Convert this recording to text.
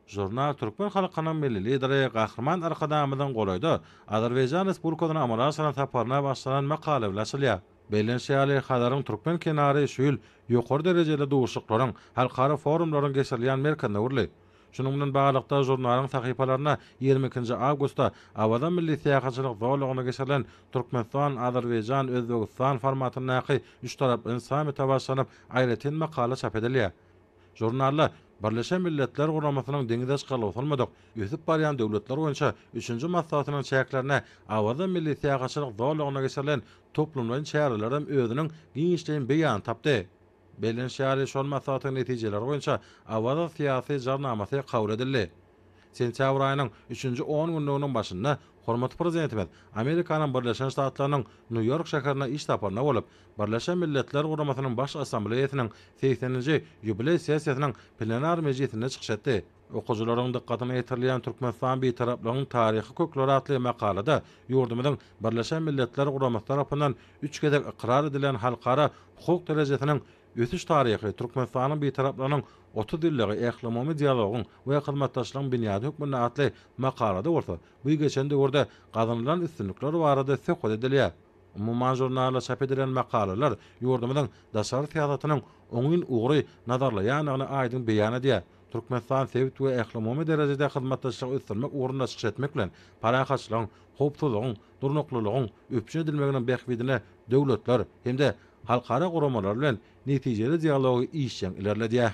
Žurnal türkmen halkynyň Milli Lideri Gahryman Arkadagymyzyň golaýda Azerbaýjan Respublikasyna amala aşyran saparyna bagyşlanan makala bilen açylýar. Bellenşi ýaly, Hazaryň türkmen kenary şu ýyl ýokary derejeli duşuşyklaryň, halkara forumlaryň geçirilýän merkezine öwrüldi. Şunuň bilen baglylykda, žurnalyň sahypalarynda ýigrimi ikinji awgustda Awaza milli syýahatçylyk zolagynda geçirilen Türkmenistan, Azerbaýjan, Özbegistan formatyndaky üçtaraplaýyn sammite bagyşlanyp aýratyn makala çap edilýär. Žurnalda Birleşen Milletler Guramasynyň Deňizaç galawsalmadyk ösüp barýan döwletler boýunça üçünji maslahatynyň çäklerinde Awaza milli syýahatçylyk zolagynda geçirilen toplumlaýyn çäreler hem özüniň giňişleýin beýanyny tapdy. Belleniş ýaly, şol maslahatyň netijeleri boýunça Awaza syýasy jarnamasy kabul edildi. Sentýabr aýynyň üçünji on günlüginiň başynda hormatly Prezidentimiz Amerikanyň Birleşen Ştatlarynyň Nýu-Ýork şäherine iş saparynda bolup, Birleşen Milletler Guramasynyň Baş Assambleýasynyň segseninji ýubileý sessiýasynyň plenar mejlisinde çykyş etdi. Okyjylaryň dykgatyna ýetirilýän Türkmenistan Bitaraplygyň taryhy kökleri atly makalada ýurdumyzyň Birleşen Milletler Guramasy tarapyndan üç gezek ykrar edilen halkara hukuk derejesiniň Ösüş taryhy, Türkmenistanyň Bitaraplarynyň otuz ýyllygy ählumumy dialogyň we hyzmatdaşlygyň binýady hökmünde atly makalada bolsa, bu geçen döwürde gazanylan üstünlikler barada söhbet edilýär. Umuman žurnalda çap edilen makalalar ýurdumyzyň daşary syýasatynyň oňyn ugry nazarlaýandygyny aýdyň beýan edýär. Türkmenistan sebit we ählumumy derejede hyzmatdaşlygy ösdürmek ugrunda çykyş etmek bilen, parahatçylygyň, howpsuzlygyň, durnuklylygyň üpjün edilmeginiň bähbidine döwletler hem-de halkara guramalar bilen netijeli dialogy işjeň ilerledýär.